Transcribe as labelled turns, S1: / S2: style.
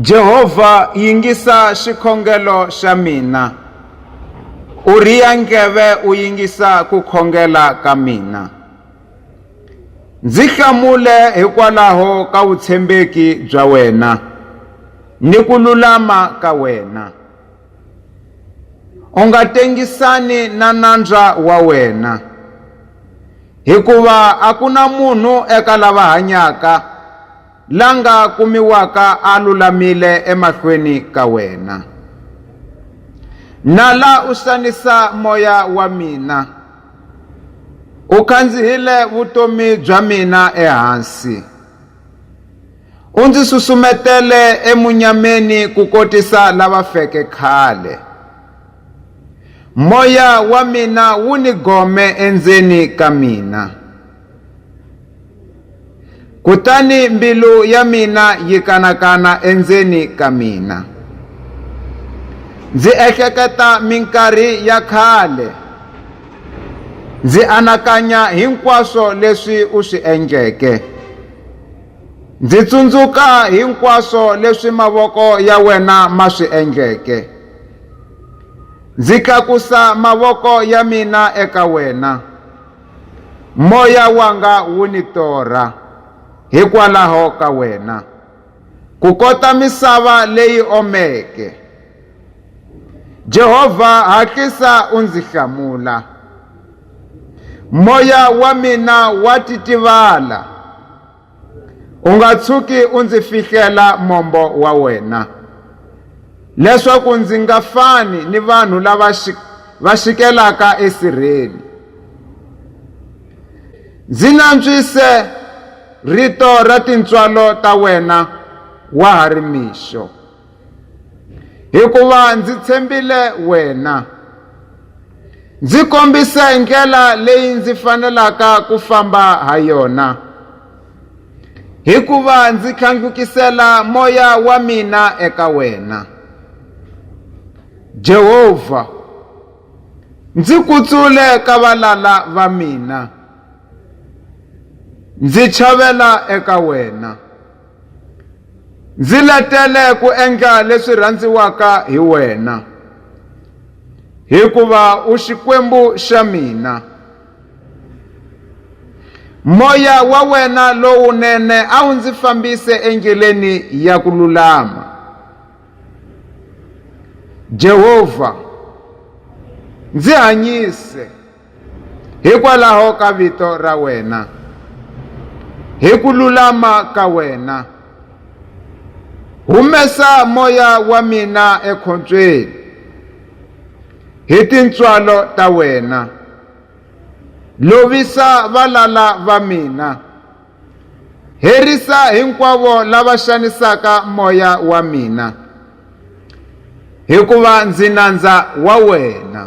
S1: Jehovha yingisa xikhongelo xa mina u riya ndleve u yingisa ku khongela ka mina ndzi hlamule hikwalaho ka vutshembeki bya wena ni ku lulama ka wena u nga tengisani na nandza wa wena hikuva a ku na munhu eka lava hanyaka la nga kumiwaka a lulamile emahlweni ka wena nala u xanisa moya wa mina u khandzihile vutomi bya mina ehansi u ndzi susumetele emunyameni ku kotisa lava feke khale moya wa mina wu ni gome endzeni ka mina kutani mbilu ya mina yi kanakana endzeni ka mina ndzi ehleketa minkarhi ya khale ndzi anakanya hinkwaswo leswi u swi endleke ndzi tsundzuka hinkwaswo leswi mavoko ya wena ma swi endleke ndzi tlakusa mavoko ya mina eka wena Moya wanga wu ni torha hikwalaho ka wena, kukota misava leyi omeke. Jehovha, hatlisa u ndzi hlamula. Moya wa mina wa titivala. u nga tshuki u ndzi fihlela mombo wa wena leswaku ndzi nga fani ni vanhu lava va xikelaka esirheni ndzi nantswise rito ra tintswalo ta wena wa ha ri mixo hikuva ndzi tshembile wena ndzi kombise ndlela leyi ndzi fanelaka ku famba ha yona hikuva ndzi tlhandlukisela moya wa mina eka wena jehovha ndzi kutsule ka valala va mina ndzi chavela eka wena ndzi letele ku endla leswi rhandziwaka hi wena hikuva u xikwembu xa mina moya wa wena lowunene a wu ndzi fambise endleleni ya ku lulama jehovha ndzi hanyise hikwalaho ka vito ra wena hi ku lulama ka wena humesa moya wa mina ekhombyeni hi tintswalo ta wena lovisa valala va mina herisa hinkwavo lava xanisaka moya wa mina hikuva ndzi nandza wa wena